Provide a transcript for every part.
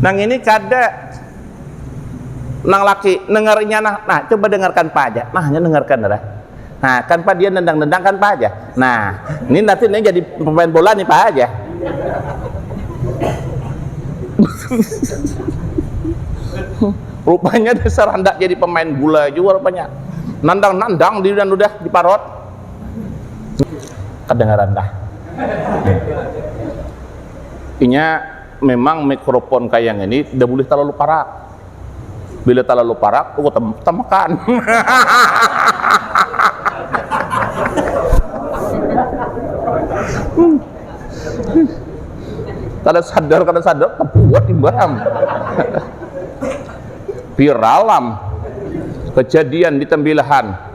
Nang ini kada nang laki dengar inya nah, nah coba dengarkan pa aja nah nya dengarkan dah nah kan pa dia nendang-nendang kan pa aja nah ini nanti ini jadi pemain bola nih pa aja rupanya dasar hendak jadi pemain bola juga rupanya nendang-nendang di dan udah di parot kedengaran dah inya memang mikrofon kaya ngini dah bulih talalu parak bila talalu parak tuh tamakan kada sadar kada sadar tabuat imbah am viral am kejadian di tembilahan.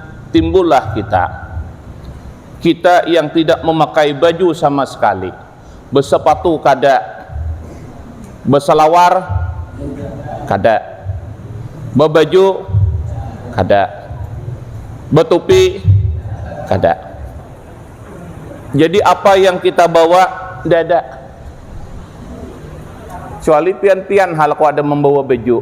timbullah kita, kita yang tidak memakai baju sama sekali, besepatu kada, beselawar kada, bebaju kada, betupi kada. Jadi apa yang kita bawa nda ada. Kecuali pian-pian ha laku ada membawa baju.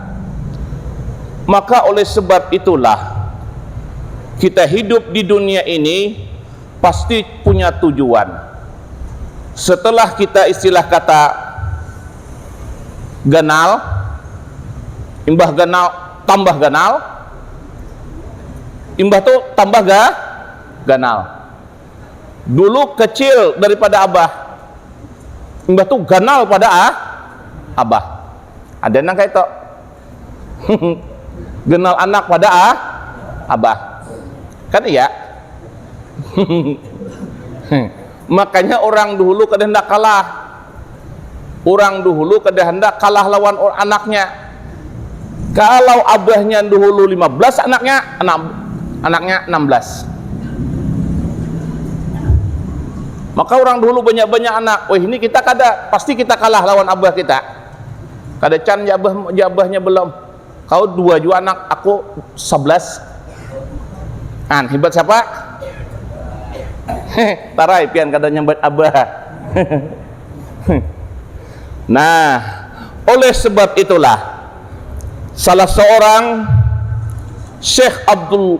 Maka oleh sebab itulah kita hidup di dunia ini pasti punya tujuan. Setelah kita istilah kata ganal, imbah ganal tambah ganal, imbah tu tambah ga ganal. Dulu kecil daripada abah, imbah tu ganal pada abah. Ada nang kayak itu. Genal anak pada ah, abah. Kan iya. Makanya orang dulu kada hendak kalah. Orang dulu kada hendak kalah lawan anaknya. Kalau abahnya dulu 15 anaknya, anak, anaknya 16. Maka orang dulu banyak-banyak anak. Wah ini kita kada, pasti kita kalah lawan abah kita. Kada can jabah-jabahnya belom. Kau dua jua anak, aku sabelas. An, hibat siapa? He, tarai pian kada nyambat abah. Nah, oleh sebab itulah salah seorang Syekh Abdul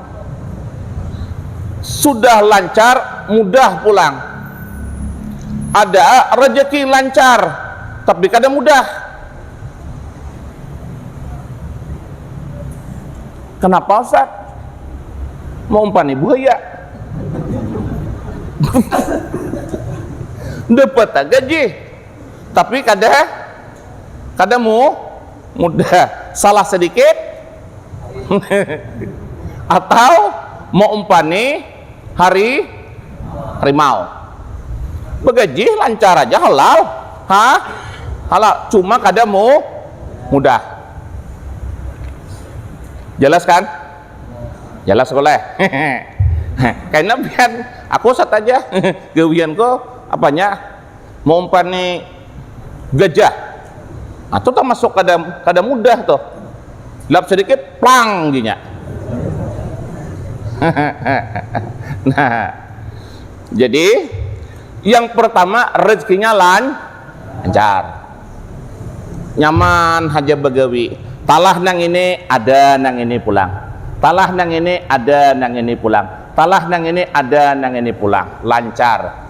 Sudah lancar mudah pulang. Ada rejeki lancar tapi kada mudah. Kenapa Ustaz? Maumpani buhaya. Dapat gaji tapi kada kada mu mudah. Salah sedikit atau mau umpani hari harimau begajih lancar aja halal ha halal cuma kada mu mudah jelas kan jelas boleh kena biar aku sat aja gawian ko apanya maumpani gajah nah tu termasuk kada kada mudah tuh lap sedikit plang ginya nah jadi yang pertama rezekinya lan lancar nyaman haja bagawi talah nang ini ada nang ini pulang talah nang ini ada nang ini pulang talah nang ini ada nang ini pulang lancar.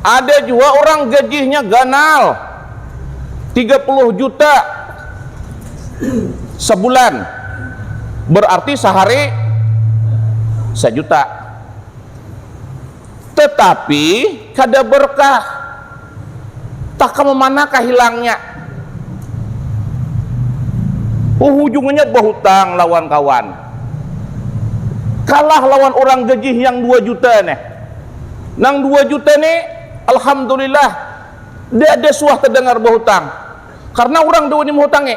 Ada jua orang gajihnya ganal 30 juta sebulan. Berarti sehari sejuta. Tetapi kada berkah. Tah kama manakah hilangnya. Uhujungnya bahutang lawan kawan. Kalah lawan urang gagih yang dua juta nih. Nang dua juta nih alhamdulillah dada suah tadangar bahutang. Karna urang da wani mahutangi.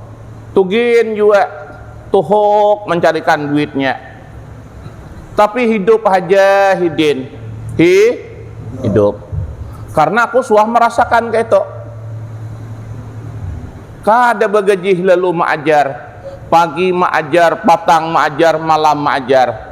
Tu gin jua tuhuk mancarikan duitnya. Tapi hidup haja hidin. Hi, hidup. Karena aku suah merasakan kaitu. Kada bagajih lalu maajar. Pagi maajar, patang maajar, malam maajar.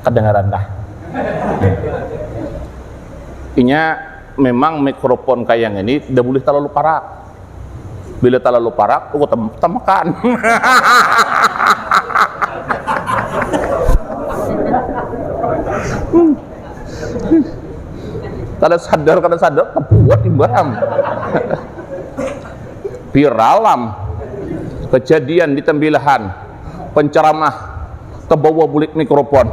Kedengaran kah? Inya memang mikrofon kaya ngini da bulih talalu parak. Bila talalu parak tuku tamakan. Kada sadar kada sadar tabuat imbah am. Viral am kejadian di Tembilahan. penceramah tebawa bulik mikrofon.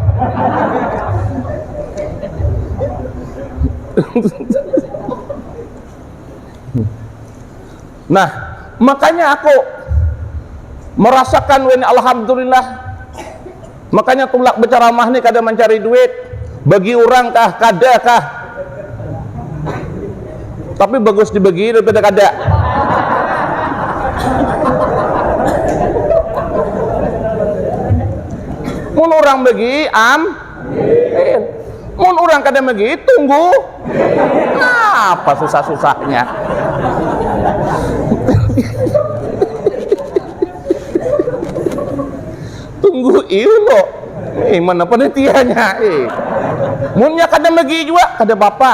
nah, makanya aku merasakan win alhamdulillah. Makanya tulak berceramah nih kada mencari duit. Bagi orang kah, kada kah? Tapi bagus dibagi daripada kada. Mun urang bagi, am, il. Mun urang kada bagi, tunggu. Nah, apa susah-susahnya. tunggu il lo. Eh, mana penitiannya? Eh. Munnya kada bagi juga, kada apa-apa.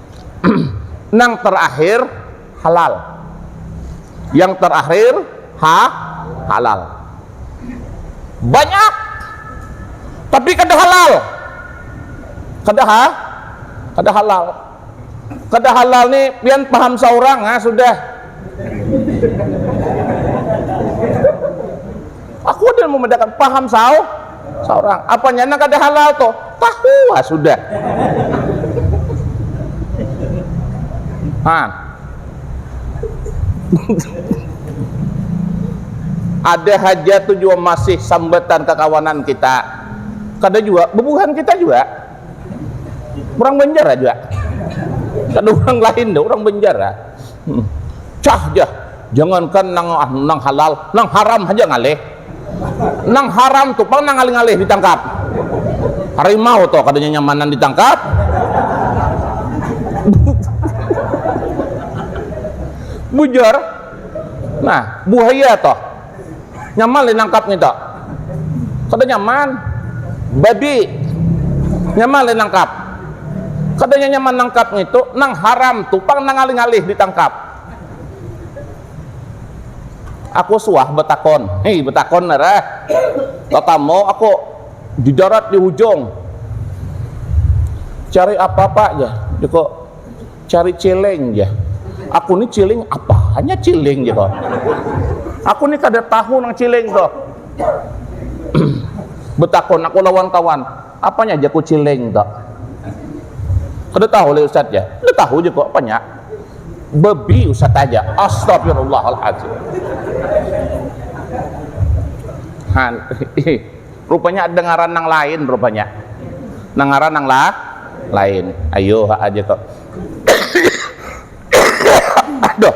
nang terakhir halal yang terakhir ha halal banyak tapi kada halal kada ha kada halal kada halal ni pian paham seorang ha sudah aku ada yang membedakan paham sao Seorang, apanya nang kada halal tuh? Tahuwa sudah. Nah. ada haja tuh juga masih sambatan kekawanan kita. Kada juga, bebuhan kita juga. Orang Banjar aja. Kada orang lain deh, orang Banjar. Ah. Hmm. Cah jah, jangankan nang, ah, nang halal, nang haram aja ngalih. Nang haram tu pang nang ngalih-ngalih ditangkap. Harimau tu kada nyanyamanan ditangkap. Bujur. Nah, buhaya tu. Nyaman lih nangkap ngitu. Kada nyaman. Babi. Nyaman lih nangkap. Kada nyanyaman nangkap ngitu. Nang haram tu pang nang ngalih-ngalih ditangkap. Aku suah betakon, hei betakon narah, tatamo aku di darat di hujung, cari apa pak jar jaku, cari ciling jar, aku ni ciling apanya ciling jaku, aku ni kada tahu nang ciling tuh, betakon aku lawan kawan. Apanya ja kuciling tu? Kada tahu leh ustaz ja. Kada tahu ja ko apanya? Babi ustaz aja. Astagfirullahalazim. Han, rupanya ada ngaran nang lain rupanya. Nang ngaran nang lah lain. Ayo ha aja ko. Aduh.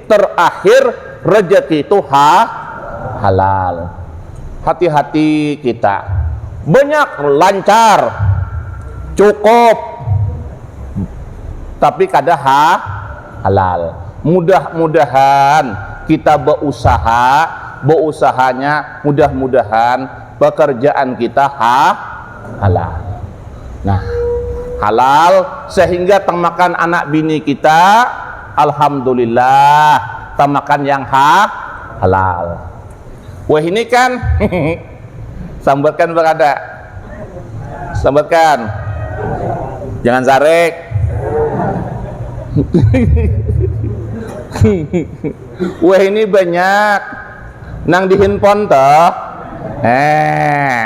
terakhir rejeki itu ha halal hati hati kita banyak lancar cukup tapi kada ha halal mudah mudahan kita beusaha beusahanya mudah mudahan pekerjaan kita ha halal nah halal sehingga temakan anak bini kita. Alhamdulillah tamakan yang ha halal wahini kan sambatkan barada sambatkan jangan sarek wahini banyak nang di hinpon toh eh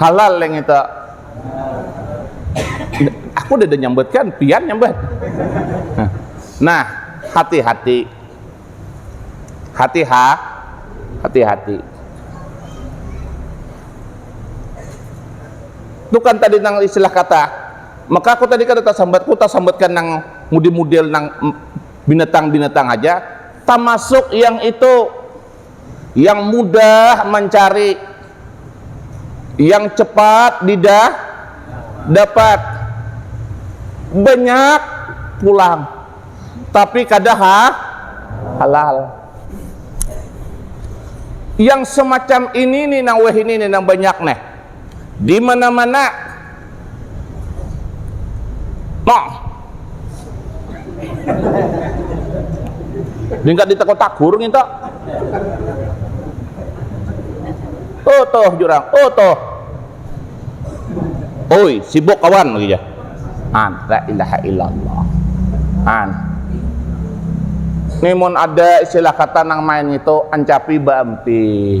halal yang itu aku udah nyambut kan pian nyambut nah hati-hati hati ha hati-hati itu kan tadi nang istilah kata maka aku tadi kada tasambat ku tasambatkan nang mudi-mudel nang binatang-binatang aja tamasuk yang itu yang mudah mencari, yang cepat didah dapat, banyak pulang, tapi kada ha, halal. Yang semacam ini nih nang wahini nih nang banyak nih. di mana-mana nah tingkat di teko tagur nginta utuh jurang utuh oi sibuk kawan lagi ya an la ilaha illallah an ini mun ada istilah kata nang main itu ancapi baampi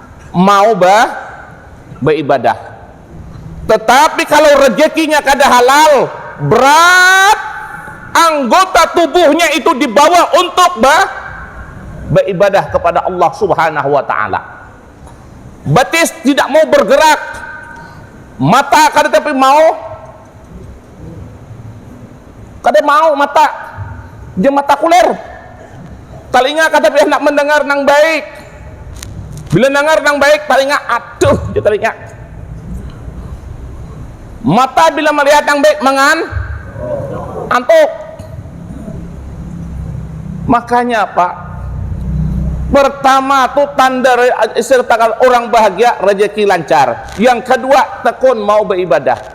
mau ba baibadah. Tetapi kalau rejekinya kada halal, berat anggota tubuhnya itu dibawa untuk ba baibadah kepada Allah Subhanahu wa taala. Betis tidak mau bergerak, mata kada tapi mau Kada mau mata ja mata kuler. Talinga kada boleh handak mandangar nang baik. Bila nangar nang baik talinga aduh jar talinga. Mata bila malihat nang baik mangan antuk. Makanya apa pertama tu tanda orang bahagia rejeki lancar. Yang kedua tekun mau beibadah.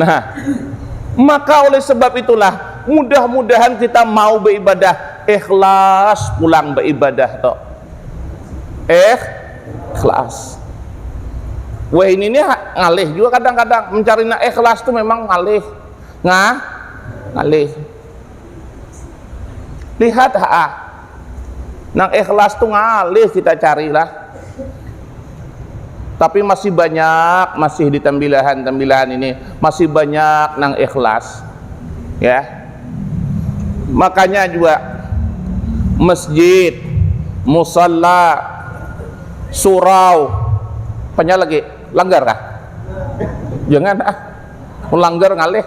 nah, maka oleh sebab itulah mudah-mudahan kita mau beribadah ikhlas pulang beribadah toh. Eh, ikhlas. Wah ini nih ngalih juga kadang-kadang mencari nak ikhlas tuh memang ngalih, ngah, ngalih. Lihat ha, Nang ikhlas tu ngalih kita cari lah. Tapi masih banyak, masih di tambilahan-tambilahan ini, masih banyak nang ikhlas. Ya. Makanya juga masjid, musalla, surau, panya lagi langgar kah? Jangan ah. Langgar ngalih.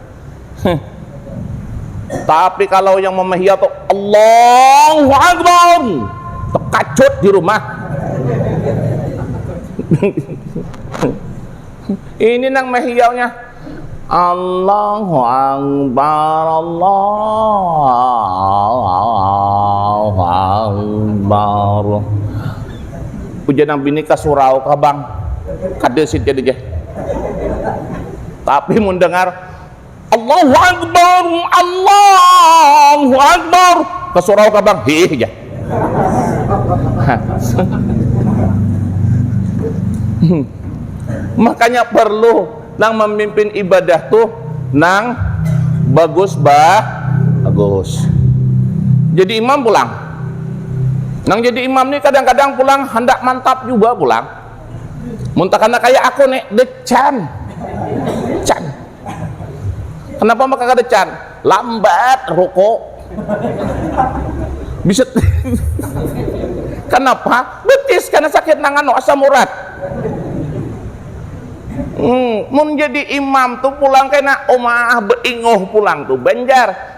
Tapi kalau yang memahia tuh Allahu Akbar, terkajut di rumah. Ini nang mahiaunya Allahu Akbar, Allahu Akbar. Ujian nang bini kasurau kabang, kada sih jadi Tapi mun dengar Allahu Akbar, Allahu Akbar, kesurau kabang, hih aja. Makanya perlu nang memimpin ibadah tuh nang bagus bah bagus. Jadi imam pulang. Nang jadi imam nih kadang-kadang pulang hendak mantap juga pulang. Mun takana kaya aku ne, decan. Can. Kenapa maka kada can? Lambat ruku. Bisa Kenapa? Betis kena sakit nang anu asam urat. Hmm, mun jadi imam tu pulang kena, Umaah beinguh pulang tu. Banjar.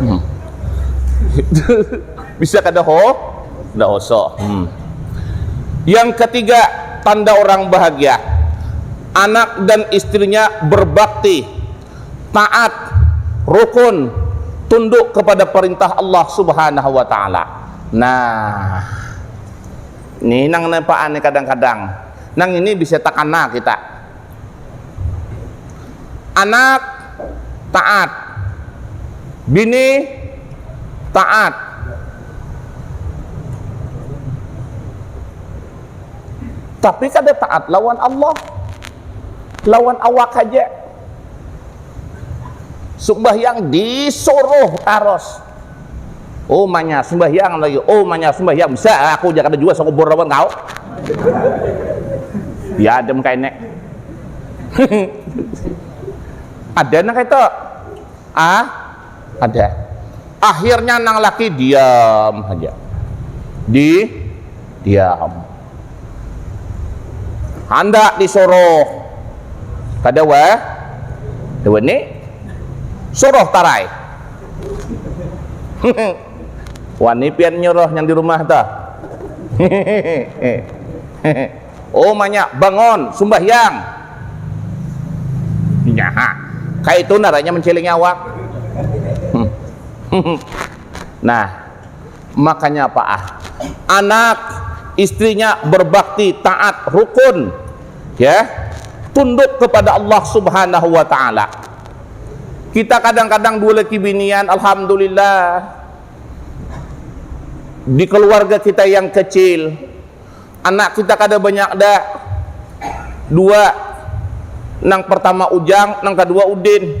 hmm. bisa kada ho kada oso hmm. yang ketiga tanda orang bahagia anak dan istrinya berbakti taat rukun tunduk kepada perintah Allah Subhanahu wa taala nah ini nang nepaan kadang-kadang nang ini bisa takana kita Anak taat, bini taat. Tapi kada taat lawan Allah. Lawan awak haja. Sumbahyang disuruh taros. Umanya sembahyang lagi, umanya sembahyang. Bisa aku jangan ada jua sekubur lawan kau. Ya adem kainek. ada nang itu. Ah, ada. Akhirnya nang laki diam saja. Di diam. Handak disuruh. Kada wa. Dewa ni. Suruh tarai. wani pian nyuruh yang di rumah ta oh manya bangun sumbahyang nyaha kaya itu naranya mencilingi awak nah makanya apa ah anak istrinya berbakti taat rukun ya tunduk kepada Allah subhanahu wa ta'ala Kita kadang-kadang dua laki binian, Alhamdulillah, di keluarga kita yang kecil, anak kita kada banyak da, dua, nang pertama Ujang, nang kedua Udin.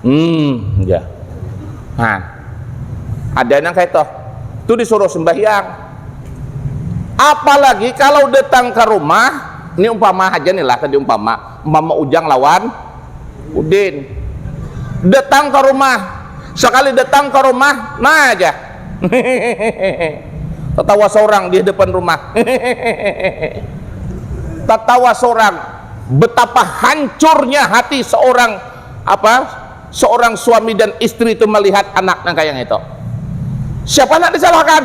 Hmm, ya. Nah, ada nang kayak toh. Itu disuruh sembahyang. Apalagi kalau datang ke rumah, ini umpama aja nih lah tadi umpama, umpama Ujang lawan Udin. Datang ke rumah, sekali datang ke rumah, nah aja. Tertawa seorang di depan rumah. Tertawa seorang. Betapa hancurnya hati seorang apa seorang suami dan istri itu melihat anak nang kayang itu. Siapa nak disalahkan?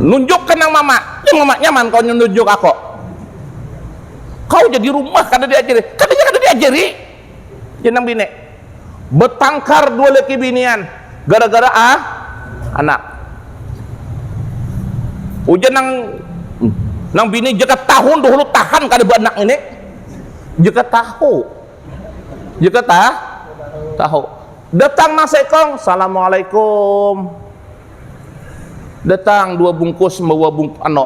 Nunjuk ke nang mama, ya mama nyaman kau nunjuk aku. Kau jadi rumah kada diajari, kada kada diajari. Jadi nang bini betangkar dua laki binian gara-gara a anak. Ujar nang nang bini jaka tahun dahulu tahan kada baanak ngini jaka tahu jaka ta tahu datang nang seekong salamualaikum datang dua bungkus membawa bung ano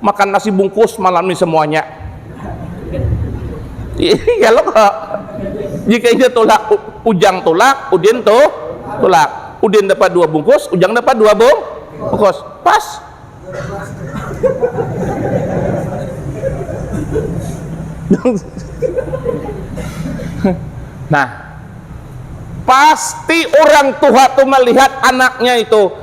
makan nasi bungkus malam ini semuanya iya lo kok jika ini tulak ujang tulak udin tuh tulak udin dapat dua bungkus ujang dapat dua bung bungkus pas nah pasti orang tua tuh melihat anaknya itu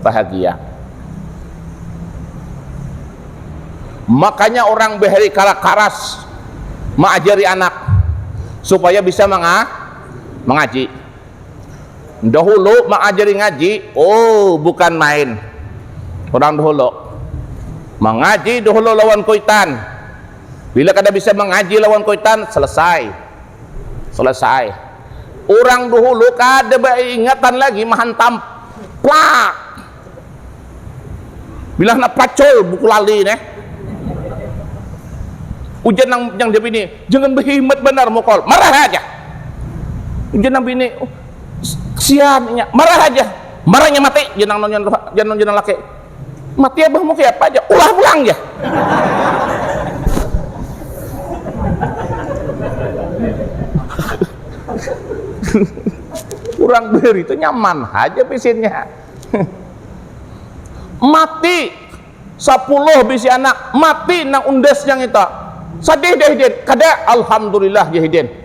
bahagia. Makanya orang bahari kala karas maajari anak supaya bisa manga mangaji. Dahulu mengajari ngaji, oh bukan main. Orang dahulu mengaji dahulu lawan kuitan. Bila kada bisa mengaji lawan kuitan, selesai. Selesai. Orang dahulu kada beingatan lagi mahantam plak bila handak pacul buku lali neh ujar nang yang dia bini jangan behimat banar mukol marah haja ujar nang bini oh, kesian inya marah haja marahnya mati jar nang jar nang laki mati abahmu kaya apa aja ulah pulang jar orang beri itu nyaman aja pisinnya mati sepuluh bisi anak mati nang undasnya itu sedih deh hidin kada alhamdulillah ya hidin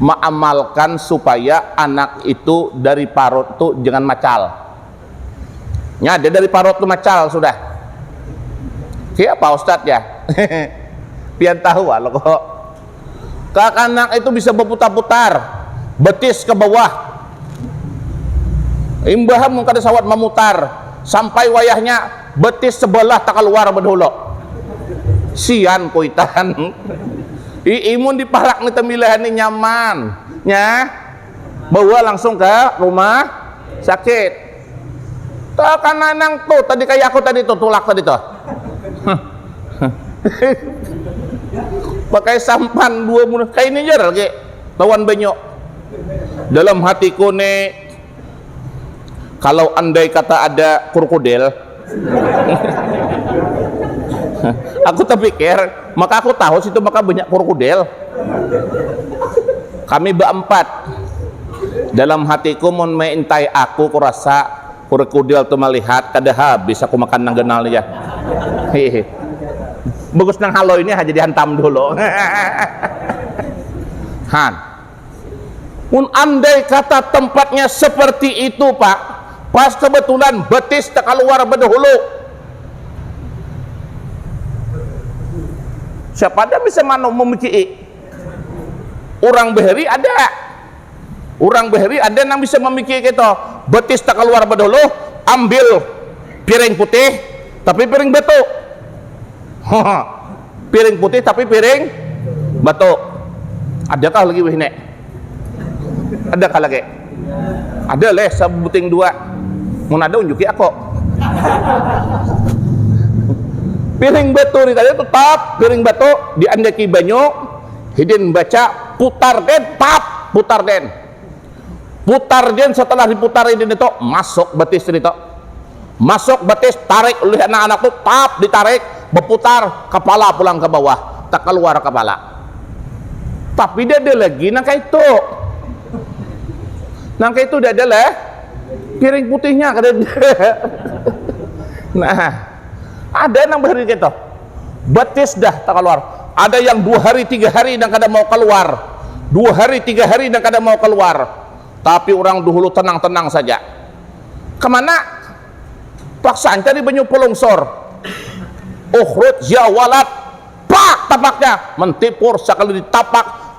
maamalkan supaya anak itu dari parut tu jangan macal. Nya ja dari parut tu macal sudah. Siapa ustad ja? Pian tahu ah loko. Kakanak itu bisa baputar-putar, betis ka bawah. Imbah mun kada sawat mamutar, sampai wayahnya betis sebelah takaluar bedahulu sian kuitan ii mun di parak ni tembilahan ni nyaman nya bawa langsung ke rumah sakit takana nang tu tadi kaya aku tadi tu tulak tadi tu pakai sampan dua kaya ini ja lagi lawan banyu dalam hatiku ni. Kalau andai kata ada kurkudel, aku terpikir, maka aku tahu situ maka banyak kurkudel. Kami beempat, dalam hatiku mun meintai aku kurasa kurkudel tu melihat kada habis aku makan nang ganal ni ja. Hihi. Bagus nang haloi ni ha jadi hantam dulu. Han. Mun andai kata tempatnya seperti itu, Pak, pas kebetulan betis tekaluar bedahulu. Siapa ada bisa manu memicii. Urang beheri ada. Urang beheri ada nang bisa memicii keto. Betis tekaluar bedahulu, ambil piring putih, tapi piring batu. Piring putih tapi piring batu. Adakah lagi wih nek? Adakah lagi? Ada leh sebuting dua. Mun ada unjuki aku. Piring batu ni tadi tetap piring batu diandaki banyu hidin baca putar den tap putar den putar jen setelah diputar ini nih tuh masuk betis ini tuh masuk betis tarik oleh anak-anak tuh tap ditarik berputar kepala pulang ke bawah tak keluar kepala tapi dia ada lagi nang kayak itu nang kayak itu dia ada lah piring putihnya kata dia nah Ada nang bahari ketu, betis dah takaluar. Ada yang dua hari tiga hari nang kada mau kaluar, dua hari tiga hari nang kada mau kaluar. Tapi urang duhulu tenang-tenang saja. Kemana? Paksaan cari banyu pulungsur. Ukhruj ya walad! Pak! Tapaknya mentipur sakali ditapak.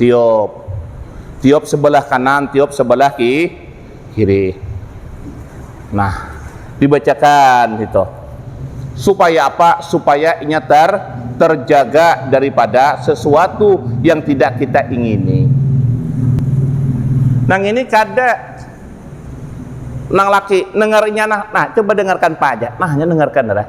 Tiup. Tiup sebelah kanan, tiup sebelah ki, kiri. Nah, dibacakan itu. Supaya apa? Supaya inya ter terjaga daripada sesuatu yang tidak kita ingini. Nang ini kada nang laki dengar inya nah, nah coba dengarkan pa aja, nah inya dengarkan dah.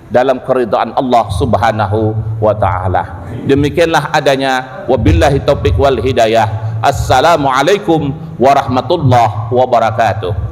dalam keridhaan Allah subhanahu wa ta'ala demikianlah adanya wabillahi taufiq wal hidayah assalamualaikum warahmatullahi wabarakatuh